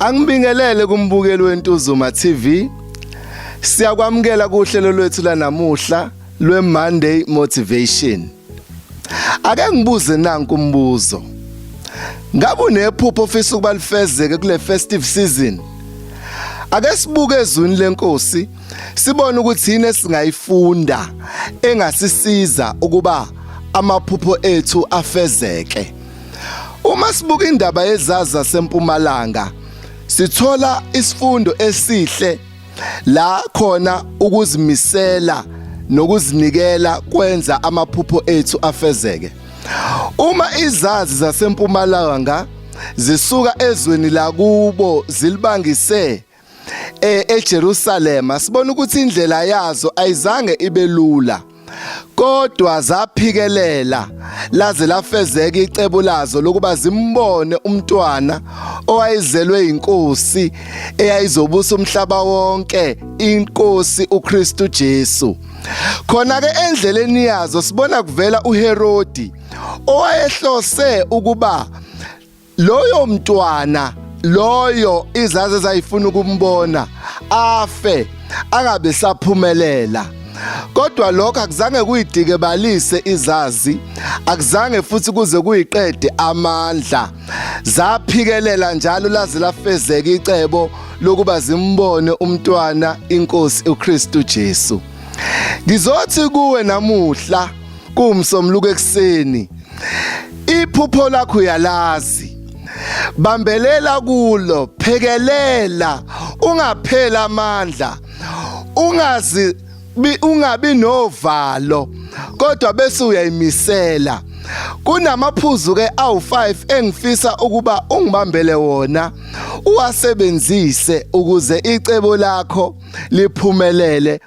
Angibingelele kumbukeli weNtuzuma TV. Siyakwamukela kuhlelo lwethu lanamuhla lweMonday Motivation. Ake ngibuze nanku umbuzo. Ngabe unephupho ofisa ukubalifezeke kule festive season? Ake sibuke ezwini lenkosi sibone ukuthi yini esingayifunda engasisiza ukuba amaphupho ethu afezeke uma sibuka indaba yezaza sempumalanga sithola isifundo esihle la khona ukuzimisela nokuzinikela kwenza amaphupho ethu afezeke uma izazi zasempumalanga zisuka ezweni lakubo zilibangise e, eJerusalema sibona ukuthi indlela yazo ayizange ibe lula kodwa zaphikelela laze lafezeka icebo lazo lokuba zimbone umntwana owayezelwe inkosi eyayizobusa umhlaba wonke inkosi uKristu Jesu khona ke endleleni yazo sibona kuvela uHerodi owayehlose ukuba loyo mntwana loyo izaze zayifuna ukumbona afe angabe saphumelela kodwa lokho akuzange kuyidike balise izazi akuzange futhi kuze kuyiqede amandla zaphikelela njalo laze lafezeka icebo lokuba zimbone umntwana inkosi uKristu Jesu ngizothi kuwe namuhla Kuwumsombuluko ekuseni. Iphupho lakho uyalazi. Bambelela kulo, phekelela, ungaphela amandla. Ungazi ungabi novalo kodwa bese uyayimisela kunamaphuzu ke awu5 engifisa ukuba ungibambele wona uwasebenzise ukuze icebo lakho liphumelele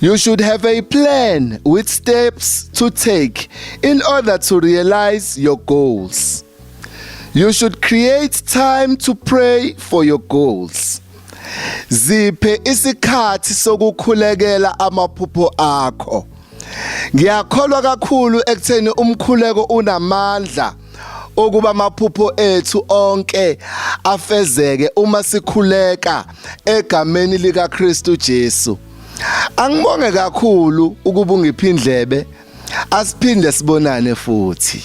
You should have a plan with steps to take in order to realize your goals. You should create time to pray for your goals. Ziphe isikhathi sokukhulekela amaphupho akho. Ngiyakholwa kakhulu ekutheni umkhuleko unamandla ukuba amaphupho ethu onke afezeke uma sikhuleka egameni lika Kristu Jesu angibonge kakhulu ukuba ungiphindlebe asiphinde sibonane futhi